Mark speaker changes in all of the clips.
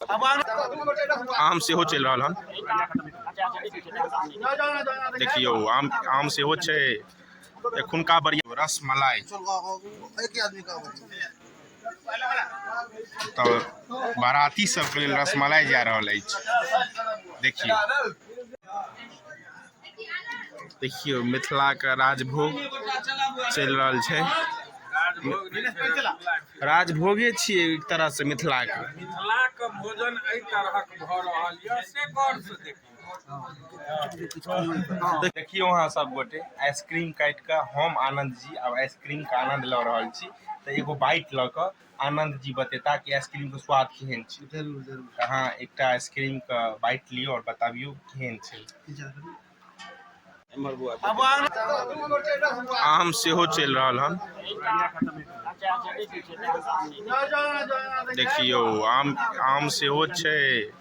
Speaker 1: आम सेहो चलि रहल हन देखियौ आम आम सेहो छै एखुनका बढ़िया रस मलाई तऽ बाराती सबके लेल रसमलाई जा रहल अछि देखियौ देखियौ मिथिलाके राजभोग चलि रहल छै राजभोगे छियै एक तरहसँ मिथिलाके मिथिलाके भोजन एहि तरहक भऽ रहल यऽ से गौरसँ देखियौ देखियौ अहाँ सब गोटे आइसक्रीम काटि कऽ हम आनन्द जी आब आइसक्रीमके आनन्द लऽ रहल छी तऽ एगो बाइट लऽ कऽ आनन्द जी बतेता कि आइसक्रीम के स्वाद केहन छै जरूर जरूर अहाँ एकटा आइसक्रीम के बाइट लियौ और बताबियौ केहन छै आम सेहो चलि रहल हन देखियौ आम आम सेहो छै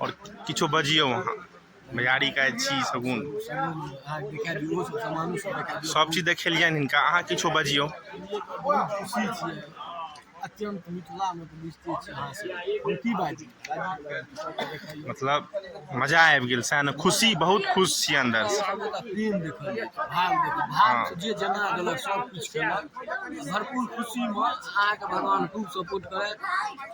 Speaker 1: आओर किछो बजियौ अहाँ भैयारी के छी सगुन सब चीज देखेलियनि हिनका अहाँ किछो बजियौ मतलब मजा आबि गेल सएह ने खुशी बहुत खुश छी अन्दर भरपूर खुशी मे अहाँके भगवान खूब सपोर्ट करथि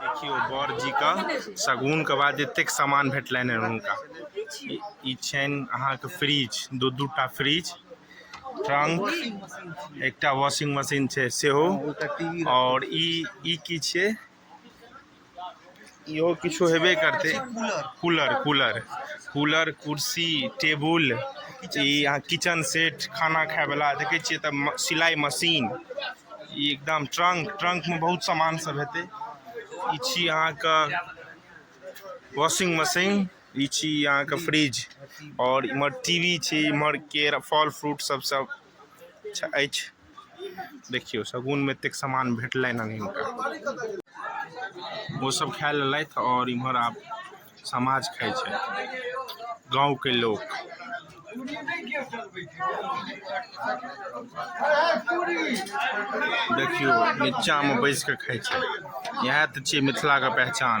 Speaker 1: देखियौ बर जीके शगुनके बाद एतेक सामान भेटलनि हँ हुनका ई छनि अहाँके फ्रिज दू दू टा फ्रिज ट्रंक एकटा वॉशिंग मशीन छै सेहो आओर ई ई की छियै इहो किछो हेबे करतै कूलर कूलर कूलर कुर्सी टेबुल ई अहाँ किचन सेट खाना खायवला देखै छियै तऽ सिलाइ मशीन ई एकदम ट्रंक ट्रंक में बहुत सामान सब हेते ई छी अहाँ के वॉशिंग मशीन ई छी अहाँ के फ्रिज और इमहर टीवी छी इमहर केरा फल फ्रूट सब सब अच्छा अछि देखियो सगुन में एतेक सामान भेटलनि हन हिनका ओ सब खाय लेलथि और इमहर आब समाज खाइ छै गाँवके लोक देखियौ नीचाँमे बैस कऽ खाइ छै इएह तऽ छियै मिथिलाके पहचान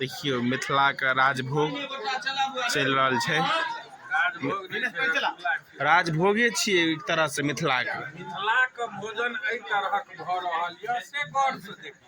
Speaker 1: देखियो मिथिला के राजभोग चल रहा है राजभोगे छी एक तरह से मिथिला के मिथिला के भोजन एहि तरह के भ रहल यऽ से गौर से देखियो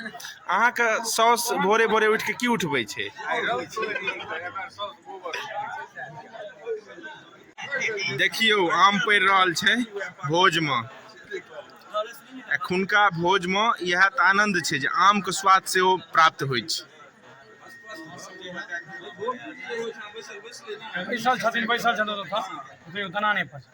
Speaker 1: अहाँके साउस भोरे भोरे उठि कऽ की उठबै छै देखियौ आम पड़ि रहल छै भोजमे एखुनका भोजमे इएह तऽ आनन्द छै जे आमके स्वाद सेहो प्राप्त होइ छै बैसल छथिन बैसल छथिन ओतऽ दाना नहि पड़ै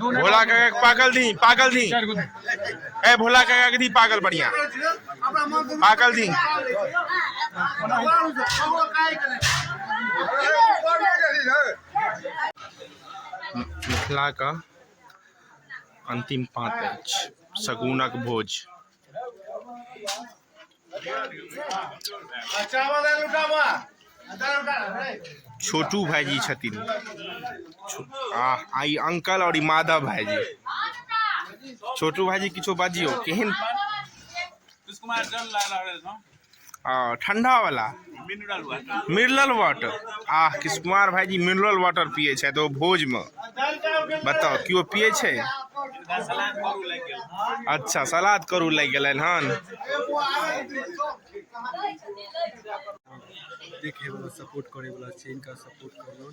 Speaker 1: भोला काका के पागल दी पागल दी ए भोला काका के दी पागल बढ़िया पागल दी मिथिला का अंतिम पाँच अछि सगुनक भोज छोटू भाईजी छथिन आ आ ई अंकल और ई माधव भाईजी छोटू भाईजी किछो बाजियो केहन और ठंडा वाला मिनरल वाटर मिनरल वाटर आ किस कुमार भाई जी मिनरल वाटर पिए छे तो भोज में बताओ क्यों पिए छे अच्छा सलाद करू लग गए हन देखे वाला सपोर्ट करे वाला छे इनका सपोर्ट करू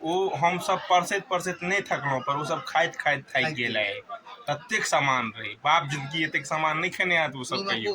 Speaker 1: ओ हमसभ परसैत परसैत नहि थकलहुँ पर ओसभ खाइत खाइत थाकि गेलै ततेक सामान रहै बाप जिनगी एतेक सामान नहि खेने होयत ओसभ कहियो